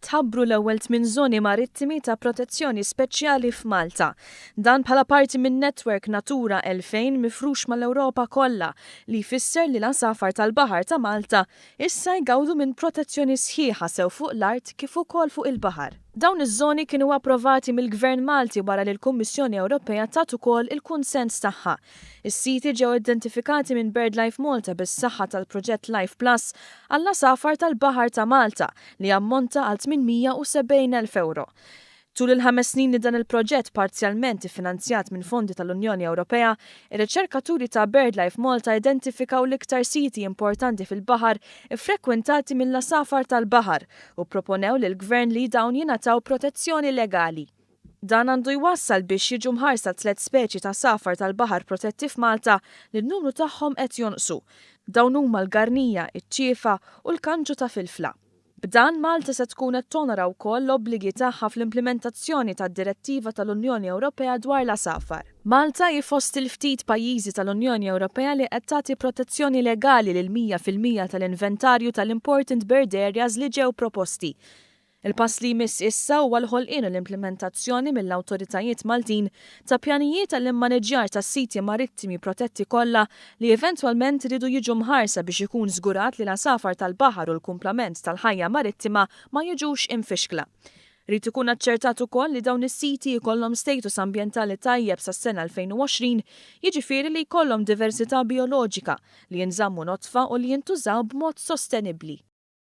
tħabbru l-ewwel tmien żoni marittimi ta' protezzjoni speċjali f'Malta. Dan bħala parti minn netwerk Natura 2000 mifrux mal-Ewropa kollha li jfisser li l-għasafar tal-baħar ta' Malta issa jgawdu minn protezzjoni sħiħa sew fuq l-art kif ukoll fuq il-baħar. Dawn iż-żoni kienu approvati mill-Gvern Malti wara li l-Kummissjoni Ewropea tat ukoll il-kunsens tagħha. Is-siti ġew identifikati minn BirdLife Malta bis-saħħa tal-proġett Life Plus għall-għasafar tal-baħar ta' Malta li jammonta għal 870 elf ewro. Tul il-ħames snin li dan il-proġett parzjalment iffinanzjat minn fondi tal-Unjoni Ewropea, ir-riċerkaturi ta' BirdLife Malta identifikaw l-iktar siti importanti fil-baħar iffrekwentati mill-għasafar tal-baħar u pproponew lill-Gvern li dawn jingħataw protezzjoni legali. Dan għandu jwassal biex jiġu mħarsa tliet speċi t'għasafar tal-baħar protetti f'Malta li n-numru tagħhom qed jonqsu. Dawn huma l-garnija, iċ-ċiefa u l-kanġu ta' filfla. B'dan, Malta se tkun qed tonora wkoll l-obbligi tagħha fl-implimentazzjoni tad-Direttiva tal-Unjoni Ewropea dwar l-Għasafar. Malta hi fost il-ftit pajjiżi tal-Unjoni Ewropea li qed tagħti protezzjoni legali lill-mija fil-mija tal-inventarju tal-Important Bird Areas li ġew proposti. Il-pass li jmiss issa huwa l-ħolqien u l-implimentazzjoni mill-awtoritajiet Maltin ta' pjanijiet għall-immaniġġjar tas-siti marittimi protetti kollha li eventwalment iridu jiġu mħarsa biex ikun żgurat li l-għasafar tal-baħar u l-kumplament tal-ħajja marittima ma jiġux imfixkla. Irid ikun aċċertat ukoll li dawn is-siti jkollhom status ambjentali tajjeb sas-sena 2020, jiġifieri li jkollhom diversità bijoloġika, li jinżammu nodfa u li jintużaw b'mod sostenibbli.